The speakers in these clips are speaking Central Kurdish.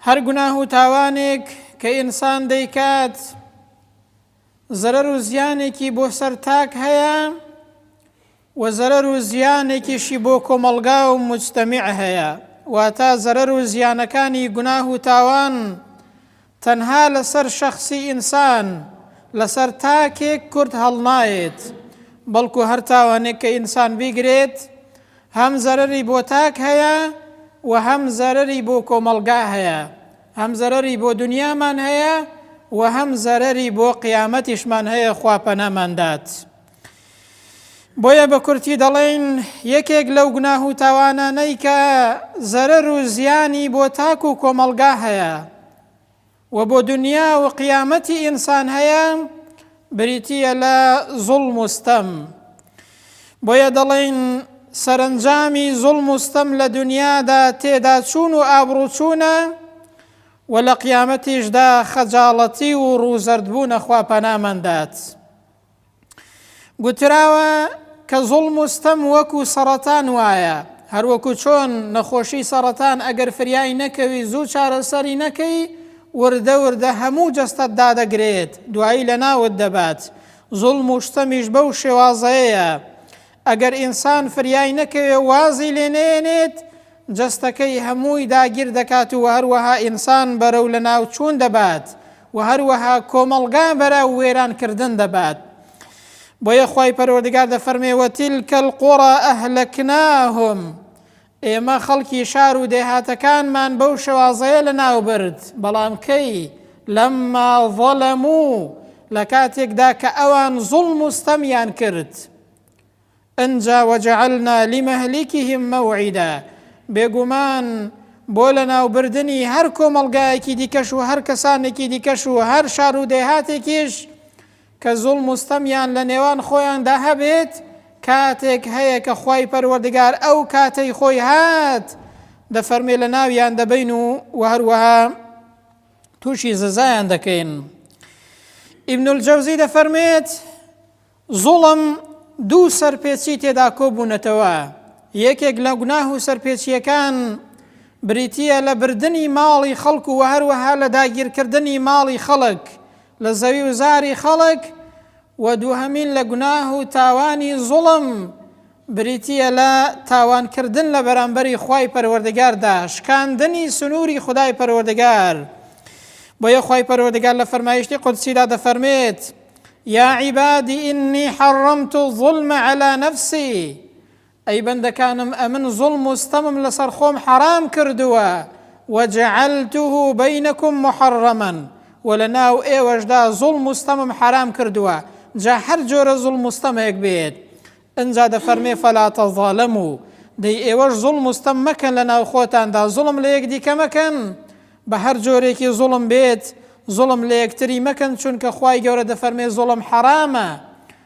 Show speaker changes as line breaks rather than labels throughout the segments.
هەر گوناه و تاوانێک کە ئینسان دەیکات زەرەر و زیانێکی بۆ سەر تاک هەیە و زەرەر و زیانێکیشی بۆ کۆمەڵگا و مجتەمیع هەیە واتا زەرەر و زیانەکانی گوناه و تاوان تەنها لەسەر شەخسی ئینسان، لەسەر تاکێک کورد هەڵنایێت، بەڵکو هەر تاوانێک کە ئینسان بیگرێت، هەم زەرەری بۆ تاک هەیە و هەم زەرەری بۆ کۆمەڵگا هەیە، هەم زەرەری بۆ دونیامان هەیە و هەم زەرەری بۆ قیامەتیشمان هەیە خوا پەناماندات. بۆیە بە کورتی دەڵێین یەکێک لەو گوناه و تاوانانەی کە زەرەر و زیانی بۆ تاک و کۆمەڵگا هەیە و بۆ دنیا و قیامەتی ئینسان هەیە بریتییە لە زوڵم و ستەم بۆیە دەڵێین سەرنجامی زوڵم و ستەم لە دنیادا تێدا چوون و ئابڕوچوونە و لە قیامەتیشدا خەجاڵەتی و ڕووزەردبوونە خوا پەنامان دات. گوتراوە کە زوڵم و ستەم وەکو سەڕەتان وایە هەروەکو چۆن نەخۆشی سەڕەتان ئەگەر فریای نەکەوی زوو چارەسەری نەکەی وردە وردە هەموو جەستەت دادەگرێت دوایی لە ناوت دەبات زوڵم و شتەمیش بەو شێوازەیە ئەگەر ئینسان فریای نەکەوێ و وازی لێ نەیەنێت، جەستەکەی هەمووی داگیر دەکات و هەروەها ئینسان بەرەو لەناوچوون دەبات و هەروەها کۆمەڵگا بەرەو وێران کردن دەبات. بۆیە خوای پەروەردگار دەفەرمێ، وتلک القری اهلکناهم، ئێمە خەڵکی شار و دێهاتەکانمان بەو شێوازەیە لەناوبرد، بەڵام کەی؟ لما ظلمو، لە کاتێکدا کە ئەوان زوڵم و ستەمیان کرد. ئنجا وجعلنا لمهلکهم موعدا، بێگومان بۆ لەناوبردنی هەر کۆمەڵگایەکی دیکەش و هەر کەسانێکی دیکەش و هەر شار و دێهاتێکیش کە زوڵم و ستەمیان لە نێوان خۆیاندا هەبێت، کاتێک هەیە کە خوای پەروەردگار ئەو کاتەی خۆی هات دەفەرموێ لە ناویان دەبەین و وە هەروەها تووشی زەزایان دەکەین ئیبن الجەوزی دەفەرمێت زوڵم دوو سەرپێچی تێدا کۆبوونەتەوە یەکێک لە گوناه و سەرپێچیەکان بریتە لە بردنی ماڵی خەڵک و هەروەها لە داگیرکردنی ماڵی خەڵک لە زەوی و زاری خەڵک، وە دووهەمین لە گوناه و تاوانی زوڵم بریتییە لە تاوان کردن لە بەرامبەری خوای پەروەردگاردا، شکاندنی سنووری خودای پەروەردگار، بۆیە خوای پەروەردگار لە فەرمایشتی قودسیدا دەفەرمێت، یا عبادی انی حرمت الظلم علی نفسی، ئەی بەندەکانم ئەمن زوڵم و ستەمم لەسەر خۆم حەرام کردووە، وجعلته بینکم محرما، وە لەناو ئێوەشدا زوڵم و ستەمم حەرام کردووە، جا هەر جۆرە زوڵم و ستەمێک بێت، ئنجا دەفەرمێ فلا تظالموا، دەی ئێوەش زوڵم و ستەم مەکەن لەناو خۆتاندا، زوڵم لە یەکدیکە مەکەن، بە هەر جۆرێکی زوڵم بێت، زوڵم لە یەکتری مەکەن، چونکە خوای گەورە دەفەرمێ زوڵم حەرامە،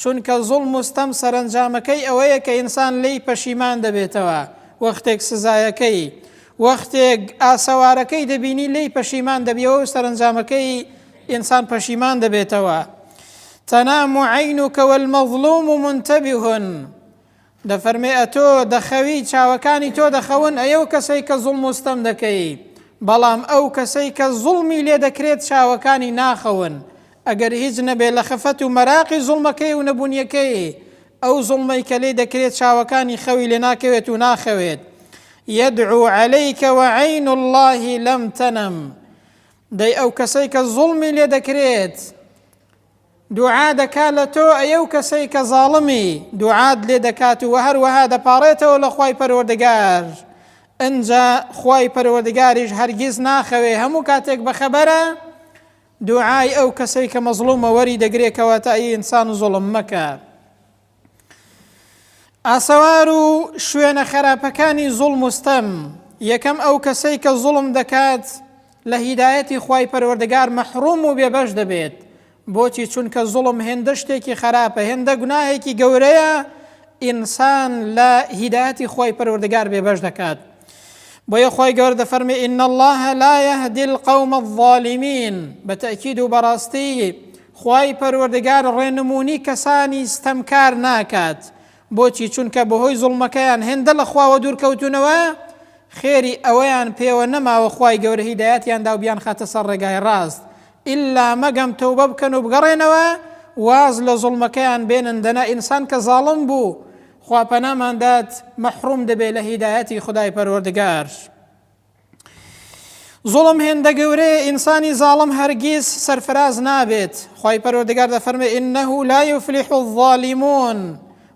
چونکە زوڵم و ستەم سەرەنجامەکەی ئەوەیە کە ئینسان لێی پەشیمان دەبێتەوە، وەختێک سزایەکەی، وەختێک ئاسەوارەکەی دەبینی لێی پەشیمان دەبیەوە و سەرەنجامەکەی ئینسان پەشیمان دەبێتەوە. تەنام عینوکە والمەظلوم منتبه دەفەرمێ ئەتۆ دەخەوی چاوەکانی تۆ دەخەون ئەی ئەو کەسەی کە زوڵم و ستەم دەکەی بەڵام ئەو کەسەی کە زوڵمی لێ دەکرێت چاوەکانی ناخەون ئەگەر هیچ نەبێ لە خەفەت و مەراقی زوڵمەکەی و نەبوونیەکەی ئەو زوڵمەی کە لێ دەکرێت چاوەکانی خەوی لێ ناکەوێت و ناخەوێت یدعو علیک و عین الله لم تنم دەی ئەو کەسەی کە زوڵمی لێ دەکرێت دوعا دەکا لە تۆ ئەی ئەو کەسەی کە زاڵمی دوعات لێ دەکات و هەروەها دەپاڕێتەوە لە خوای پەروەردگار ئەنجا خوای پەروەردگاریش هەرگیز ناخەوێ هەموو کاتێک بەخەبەرە دوعای ئەو کەسەی کە مەزڵومە وەری دەگرێکەوە تا ئینسان زڵم مەکە ئاسەوار و شوێنە خەراپەکانی زوڵم و ستەم یەکەم ئەو کەسەی کە زوڵم دەکات لە هیدایەتی خوای پەروەردگار مەحروم و بێبەش دەبێت بۆچی چونکە زوڵم هێندە شتێکی خەراپە هێندە گوناهێکی گەورەیە ئینسان لە هیدایەتی خوای پەروەردگار بێبەش دەکات بۆیە خۆی گەور دەفەرمی ئین الله لا يهدي القوم الظالمین بە تەکید و بەڕاستی خوای پەروەردگار ڕێنمونی کەسانی ستەمکار ناکات، بۆچی چونکە بەهۆی زوڵمەکەیان هێندە لە خواوە دوورکەوتونەوە خێری ئەوەیان پێوە نەماوە خوای گەورە هیدایەتیان داو بیانخاتە سەر ڕێگای ڕاست ئیلا مەگەم تەوبە بکەن و بگەڕێنەوە واز لە زوڵمەکەیان بێنن دەنا ئینسان کە زاڵم بوو خوا پەنامان دات مەحروم دەبێت لە هیدایەتی خودای پەروەردگار. زوڵم هێندە گەورەیە ئینسانی زاڵم هەرگیز سەرفراز نابێت خی پەرۆردگار دەفەرمێ ئینەه لا یفلیح الظالمون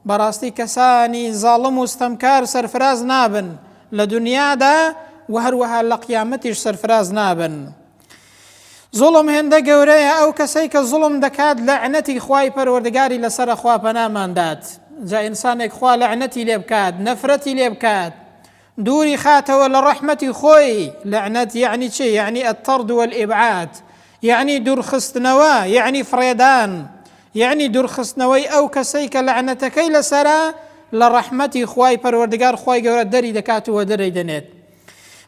بەڕاستی کەسانی زاڵم و ستەمکار سەرفراز نابن لە دنیادا و هەروەها لە قیامەتیش سەرفراز نابن. زوڵم هێندە گەورەیە ئەو کەسەی کە زوڵم دەکات لە عنەتی خوای پەروەردگاری لەسەر خوا پەناماندات جا ئینسانێک خوا لە عنەتی لێ بکات نەفرەتی لێ بکات دووری خاتەوە لە ڕەحمەتی خۆی، لەعنەت یەعنی چ؟ یەعنی الطرد والابعاد، یەعنی دوورخستنەوە، یەعنی فڕێدان، یەعنی دوورخستنەوەی ئەو کەسەی کە لەعنەتەکەی لەسەرە لە ڕەحمەتی خوای پەروەردگار خوای گەورە دەری دەکات و وەدەرێی دەنێت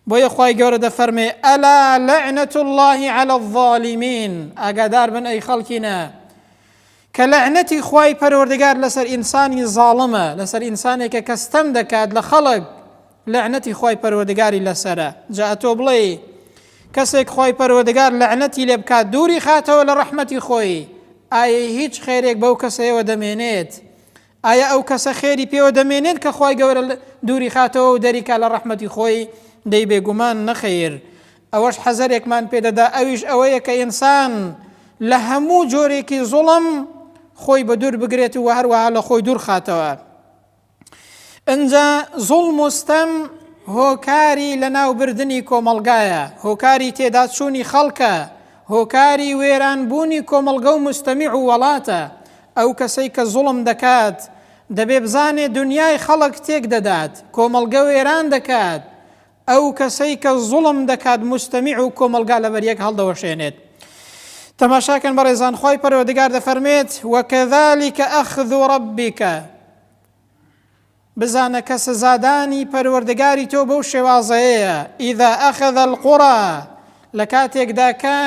بۆیە خوای گەورە دەفەرمێ ئەلا لەعنەت اللهی علی الظالمین ئاگادار بن ئەی خەڵکینە کە لەعنەتی خوای پەروەردگار لەسەر ئینسانی زاڵمە لەسەر ئینسانێکە کە ستەم دەکات لە خەڵک لەعنەتی خوای پەروەردگاری لەسرە جا ئەتۆ بڵێ کەسێک خوای پەروەردگار لەعنەتی لێ بکات دووری خاتەوە لە ڕەحمەتی خۆی ئایا هیچ خێرێک بەو کەسەیەوە دەمێنێت ئایا ئەو کەسە خێری پێوە دەمێنێت کە خوای گەورە دووریخاتەوە و دەریکا لە ڕەحمەتی خۆی؟ دەی بێگومان نەخەیر. ئەوەش حەزەرێکمان پێدەدا ئەویش ئەوەیە کە ئینسان لە هەموو جۆرێکی زوڵم خۆی بە دوور بگرێت و هەروەها لە خۆی دوورخاتەوە. ئەنجا زوڵم و ستەم هۆکاری لەناوبردنی کۆمەڵگایە، هۆکاری تێداچوونی خەڵکە، هۆکاری وێرانبوونی کۆمەڵگە و مستەمیع و وەڵاتە. ئەو کەسەی کە زوڵم دەکات دەبێ بزانێ دونیای خەڵک تێک دەدات کۆمەڵگە وێران دەکات ئەو کەسەی کە زوڵم دەکات مستەمیع و کۆمەڵگا لەبەر یەک هەڵدەوەشێنێت تەماشاکەن بەڕێزان خی پەرەوەدگار دەفەرمێت وەکەذلك ئەخذ ربك بزانە کە سزادانی پەروەردگاری تۆ بەو شێوازەیەیە، اذا اخذ القری، لە کاتێکدا کە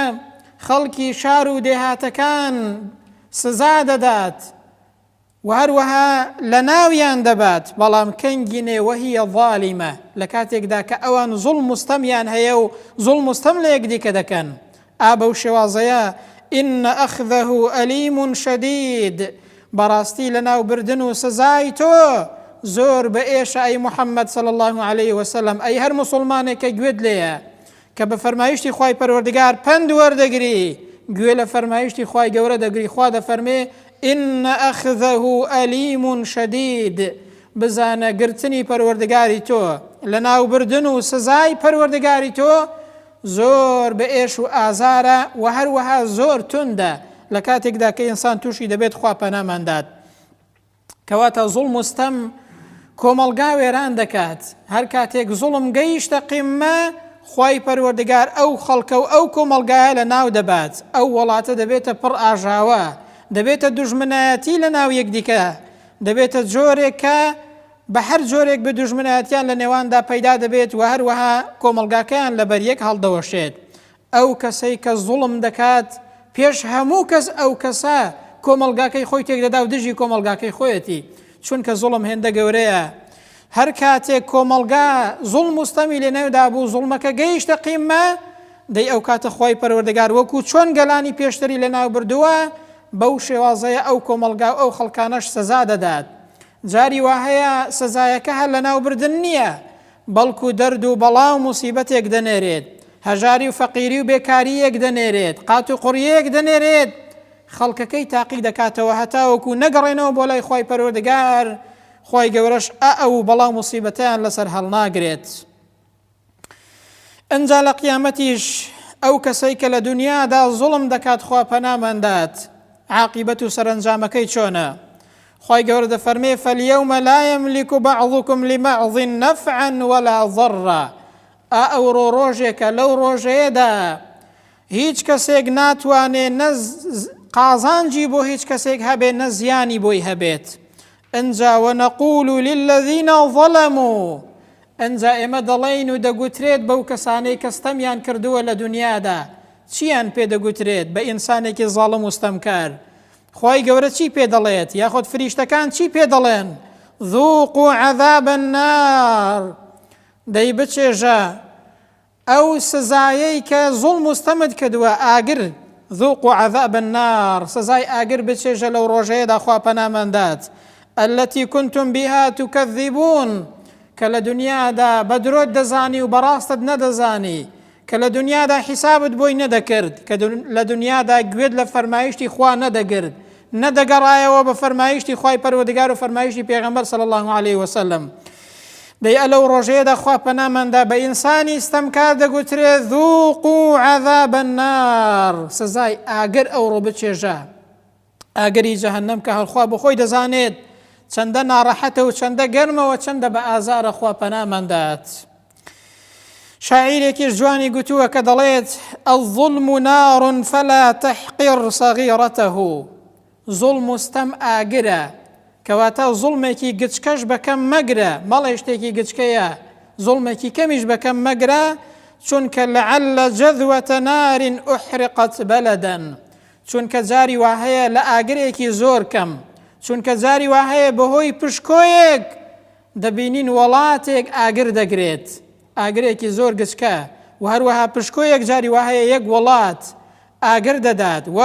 خەڵکی شار و دێهاتەکان سزا دەدات و هەروەها لە ناویان دەبات، بەڵام کەنگی نێ وهی ظالمە، لە کاتێکدا کە ئەوان زوڵم و ستەمیان هەیە و زوڵم و ستەم لە یەکدیکە دەکەن، ئا بەو شێوازەیە، ان اخذه الیم شدید، بەڕاستی لەناوبردن و سزای تۆ زۆر بە ئێشە ئەی محمد صلی اللە علیە وسلم، ئەی هەر موسڵمانێک کە گوێت لێیە کە بە فەرمایشتی خوای پەروەردگار پەند وەردەگری گوێ لە فەرمایشتی خوای گەورە دەگری خوا دەفەرمێ ان اخذه الیم شدید بزانە گرتنی پەروەردگاری تۆ لەناوبردن و سزای پەروەردگاری تۆ زۆر بە ئێش و ئازارە وە هەروەها زۆر توندە لە کاتێکدا کە ئینسان تووشی دەبێت خوا پەنامان دات کەواتە زوڵم و ستەم کۆمەڵگا وێران دەکات هەر کاتێک زوڵم گەیشتە قیممە خوای پەروەردگار ئەو خەڵکە و ئەو کۆمەڵگایە لە ناو دەبات ئەو وڵاتە دەبێتە پڕ ئاژاوە دەبێتە دوژمنایەتی لە ناو یەکدیکە دەبێتە جۆرێکە بە هەر جۆرێک بێ دوژمنایەتیان لە نێواندا پەیدا دەبێت و هەروەها کۆمەڵگاکەیان لەبەر یەک هەڵدەوەشێت. ئەو کەسەی کە زوڵم دەکات پێش هەموو کەس ئەو کەسە کۆمەڵگاکەی خۆی تێکدەدا و دژی کۆمەڵگاکەی خۆیەتی، چونکە زوڵم هێندە گەورەیە هەر کاتێک کۆمەڵگا زوڵم و ستەمی لێنەودا بوو زوڵمەکە گەیشتە قیممە دەی ئەو کاتە خوای پەروەردگار وەکو چۆن گەلانی پێشتری لەناو بردووە بەو شێوازەیە ئەو کۆمەڵگا و ئەو خەڵکانەش سزا دەدات. جاری وا هەیە سزایەکە هەر لەناوبردن نییە، بەڵکو دەرد و بەڵا و موسیبەتێک دەنێرێت، هەژاری و فەقیری و بێکارییەک دەنێرێت، قات و قڕییەک دەنێرێت، خەڵکەکەی تاقی دەکاتەوە هەتاوەکو نەگەڕێنەوە بۆ لای خوای پەروەردگار، خوای گەورەش ئائەو بەڵا و موسیبەتەیان لەسەر هەڵناگرێت. ئەنجا لە قیامەتیش ئەو کەسەی کە لە دنیادا زوڵم دەکات خوا پەناماندات عاقیبەت و سەرنجامەکەی چۆنە خی گەورە دەفەرمێ فەلیەومە لایەم لیک و بەعڵکم لیمەعڵین نەفعەن وەلا ضڕە ئا ئەوڕۆ ڕۆژێکە لەو ڕۆژەیەدا هیچ کەسێک ناتوانێ نەز قازانجی بۆ هیچ کەسێک هەبێ نە زیانی بۆی هەبێت ئنجا ونقول للذین ظلمو ئنجا ئێمە دەڵێین و دەگوترێت بەو کەسانەی کە ستەمیان کردووە لە دنیادا چیان پێ دەگوترێت بە ئینسانێکی ظاڵم و ستەمکار خوای گەورە چی پێ دەڵێت یاخود فریشتەکان چی پێ دەڵێن ذوقوا عذاب النار دەی بچێژە ئەو سزایەی کە زوڵم و ستەمت کردووە ئاگر، ذوقوا عذاب النار، سزای ئاگر بچێژە لەو ڕۆژەیەدا خوا پەنامان دات، التی کنتم بها تکذبون، کە لە دنیادا بە درۆت دەزانی و بە ڕاستت نەدەزانی، کە لە دنیادا حیسابت بۆی نەدەکرد، کە لە دنیادا گوێت لە فەرمایشتی خوا نەدەگرت، نەدەگەڕایەوە بە فەرمایشتی خوای پەروەردگار و فەرمایشتی پێغەمبەر صلی اللە علیە وسلم. دەی ئە لەو ڕۆژەیەدا خوا پەنامان دا بە ئینسانی ستەمکار دەگوترێ ذوقوا عذاب النار سزای ئاگر ئەوڕۆ بچێژە ئاگری جەهەنەم کە هەرخوا بەخۆی دەزانێت چەندە ناڕەحەتە و چەندە گەرمەوە چەندە بە ئازارە خوا پەنامان دات. شاعیرێکیش جوانی گوتووە کە دەڵێت ئەو ظلم و ناڕون فەلا تەحقیر سەغیڕەتەه زوڵم و ستەم ئاگرە، کەواتە زوڵمێکی گچکەش بە کەم مەگرە، بەڵێ شتێکی گچکەیە، زوڵمێکی کەمیش بە کەم مەگرە، چونکە لعل جذوە نار احرقت بلدا، چونکە جاری وا هەیە لە ئاگرێکی زۆر کەم، چونکە جاری وا هەیە بەهۆی پشکۆیەک دەبینین وەڵاتێک ئاگر دەگرێت، ئاگرێکی زۆر گچکە و هەروەها پشکۆ یەکجاری وا هەیە یەک وڵات ئاگر دەدات و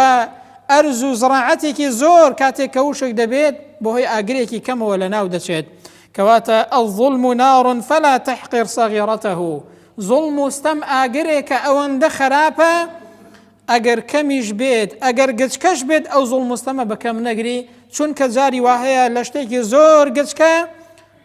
ئەرز و زڕاعەتێکی زۆر کاتێک کە وشک دەبێت بەهۆی ئاگرێکی کەمەوە لەناو دەچێت کەواتە الظلم نار فلا تحقر صغيرته ظلم و ستەم ئاگرێکە ئەوەندە خراپە ئەگەر کەمیش بێت ئەگەر گچکەش بێت ئەو زۆڵ مستەمە بەکەم نەگری چونکە جاری واهەیە لە شتێکی زۆر گچکە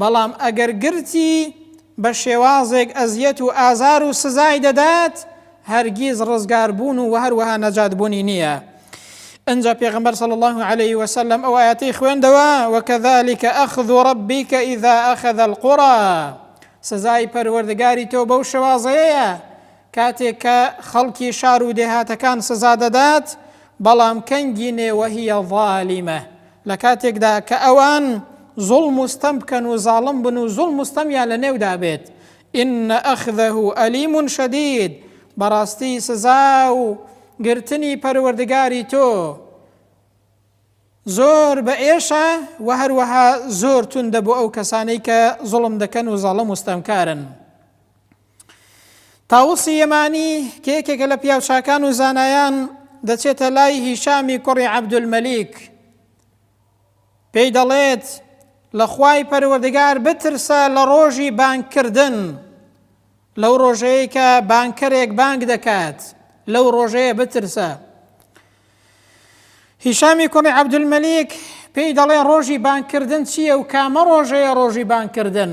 بەڵام ئەگەر گرتی بە شێوازێک ئەزیەت و ئازار و سزای دەدات هەرگیز ڕزگار بوون و وەهەروەها نەجات بوونی نییە ئەنجا پێغمبەر صلی الله عليه وسلم ئەو ئاەتی خوێندەوە وەکەذلك ئەخذ ربك إذا أخذ القرى سزای پەروەردگاری تۆ بەو شێوازەیە کاتێک کە خەڵکی شار و دێهاتەکان سزا دەدات، بەڵام کەنگی نێوەهیە ظالیمە، لە کاتێکدا کە ئەوان زوڵم و ستەم بکەن و زاڵم بن و زوڵم و ستەمیان لە نێودا بێت، ان اخذه الیم شدید، بەڕاستی سزا و گرتنی پەروەردگاری تۆ زۆر بە ئێشە و هەروەها زۆر توندە بۆ ئەو کەسانەی کە زوڵم دەکەن و زاڵم و ستەمکارن. تاوسی یەمانی کە یەکێکە لە پیاوچاکان و زانایان دەچێتە لای هیشامی کوڕی عەبدولمەلیک پێی دەڵێت لە خوای پەروەردگار بترسە لە ڕۆژی بانکردن لەو ڕۆژەیە کە بانکەرێک بانک دەکات لەو ڕۆژەیە بترسە هیشامی کوڕی عەبدولمەلیک پێی دەڵێ ڕۆژی بانکردن چییە و کامە ڕۆژەیە ڕۆژی بانکردن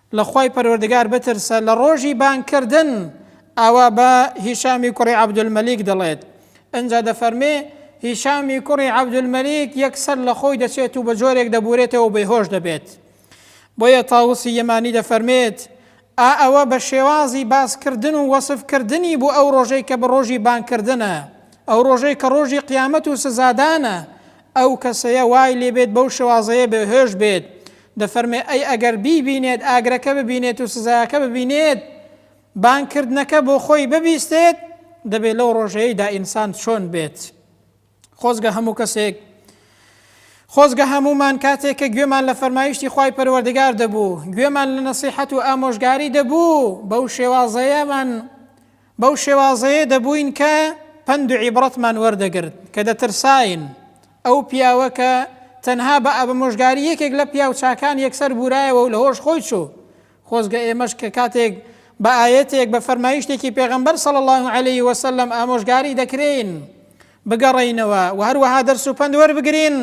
لە خوای پەروەردگار بترسە لە ڕۆژی بانگ کردن ئاوا بە هیشامی کوڕی عەبدولمەلیک دەڵێت ئنجا دەفەرمێ هیشامی کوڕی عەبدولمەلیک یەکسەر لە خۆی دەچێت و بە جۆرێک دەبورێتەوە بەیهۆش دەبێت بۆیە تاوسی یەمانی دەفەرمێت ئا ئەوە بە شێوازی باسکردن و وەسفکردنی بۆ ئەو ڕۆژەی کە بە ڕۆژی بانکردنە ئەو ڕۆژەی کە ڕۆژی قیامەت و سزادانە ئەو کەسەیە وای لێبێت بەو شێوازەیە بێهێش بێت دەفەرمێ ئەی ئەگەر بیبینێت ئاگرەکە ببینێت و سزایەکە ببینێت بانگ کردنەکە بۆ خۆی ببیستێت دەبێت لەو ڕۆژەیەیدا ئینسان چۆن بێت خۆزگە هەموو کەسێک خۆزگە هەمومان کاتێک کە گوێمان لە فەرمایشتی خی پەروەردگار دەبوو گوێمان لە نەسیحەت و ئامۆژگاری دەبوو بەو شێوازەیەمان بەو شێوازەیە دەبووین کە پەند و عیبڕەتمان وەردەگرت، کە دەترساین ئەو پیاوە کە تەنها بە ئابمۆژگاری یەکێک لە پیاو چاکان یەکسەر بوورایەوە و لەهۆش خۆی چوو، خۆزگە ئێمەش کە کاتێک بە ئایەتێک، بە فەرمایشتێکی پێغەمبەر صلی اللە علیە وسلم ئامۆژگاری دەکرێین بگەڕێینەوە و هەروەها دەرس و پەند وەربگرین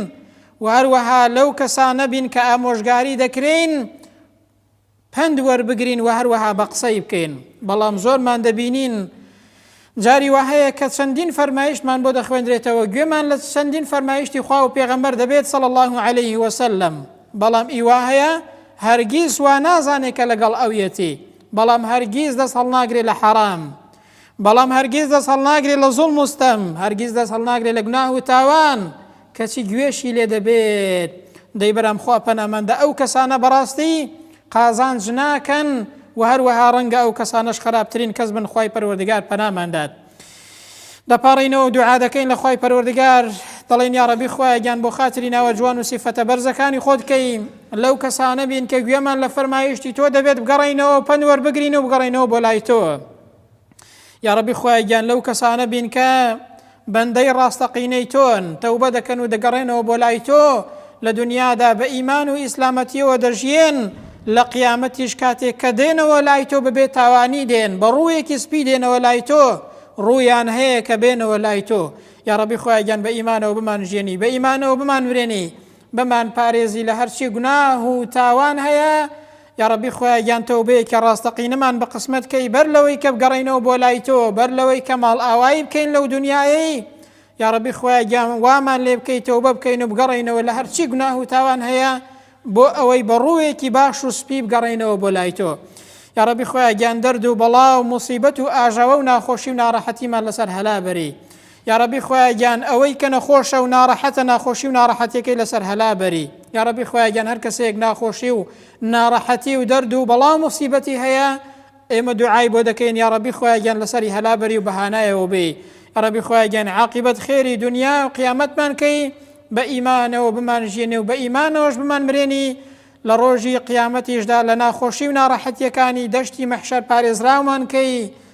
و هەروەها لەو کەسانە بین کە ئامۆژگاری دەکرێین پەند وەربگرین و هەروەها بە قسەی بکەین، بەڵام زۆرمان دەبینین جاری وا هەیە کە چەندین فەرمایشتمان بۆ دەخوێندرێتەوە، گوێمان لە چەندین فەرمایشتی خوا و پێغەمبەر دەبێت صلی اللە علیه وسلم، بەڵام ئی وا هەیە هەرگیز وا نازانێت کە لەگەڵ ئەویەتی، بەڵام هەرگیز دەست هەڵناگرێت لە حەرام، بەڵام هەرگیز دەست هەڵناگرێ لە زوڵم و ستەم، هەرگیز دەست هەڵناگرێ لە گوناه و تاوان، کەچی گوێشی لێ دەبێت. دەی برام خوا پەنامان دە ئەو کەسانە بەڕاستی قازانج ناکەن و هەروەها ڕەنگە ئەو کەسانەش خەراپترین کەس بن خوای پەروەردگار پەنامان دات. دەپاڕێینەوە دوعا دەکەین لە خوای پەروەردگار دەڵێن یا ڕەبی خوایە گیان بۆ خاتری ناوە جوان و سیفەتە بەرزەکانی خۆت کەی لەو کەسانە بین کە گوێمان لە فەرمایشتی تۆ دەبێت بگەڕێینەوە پەند وەربگرین و بگەڕێینەوە بۆ لای تۆ. یاڕەبی خوای گیان لەو کەسانە بین کە بەندەی ڕاستەقینەی تۆن تەوبە دەکەن و دەگەڕێنەوە بۆ لای تۆ لە دنیادا بە ئیمان و ئیسلامەتیەوە دەژیێن لە قیامەتیش کاتێک کە دێنەوە لای تۆ ببێت تاوانی دێن بە ڕوویەکی سپی دێنەوە لای تۆ ڕوویان هەیە کە بێنەوە لای تۆ یا ڕەبی خۆیان بە ئیمانەوە بمان ژێنی بە ئیمانەوە بمان ورێنی بمان پارێزی لە هەرچی گوناه و تاوان هەیە یاڕەبی خوایە گیان تەوبەیەکی ڕاستەقینەمان بە قسمەت کەی بەر لەوەی کە بگەڕێینەوە بۆ لای تۆ بەر لەوەی کە ماڵ ئاوایی بکەین لەو دنیایەی یاڕەبی خوایە گیان وامان لێ بکەی تەوبە بکەین و بگەڕێینەوە لە هەرچی گوناه و تاوان هەیە بۆ ئەوەی بە ڕووێکی باش و سپی بگەڕێینەوە بۆ لای تۆ یاڕەبی خۆیان گیان دەرد و بەڵا و مصیبەت و ئاژاوە و ناخۆشی و ناڕەحەتیمان لەسەر هەلا بەری یاڕەبی خوایە گیان ئەوەی کە نەخۆشە و ناڕەحەتە ناخۆشی و ناڕەحەتیەکەی لەسەر هەلا بەری یاڕەبی خوایە گیان هەر کەسەیەک ناخۆشی و ناڕەحەتی و دەرد و بەڵام و سیبەتی هەیە ئێمە دوعای بۆ دەکەین یا ڕەبی خۆیان لەسەری هەلابەری و بەهانایەوە بێ ڕەبی خۆیان عقیبەت خێری دنیا و قیامەتمان کەی بە ئیمانەوە بمان ژێنێ و بە ئیمانەوەش بمان مرێنی لە ڕۆژی قیامەتیشدا لە ناخۆشی و ناڕەحەتیەکانی دەشتی مەحشەر پارێزراومان کەی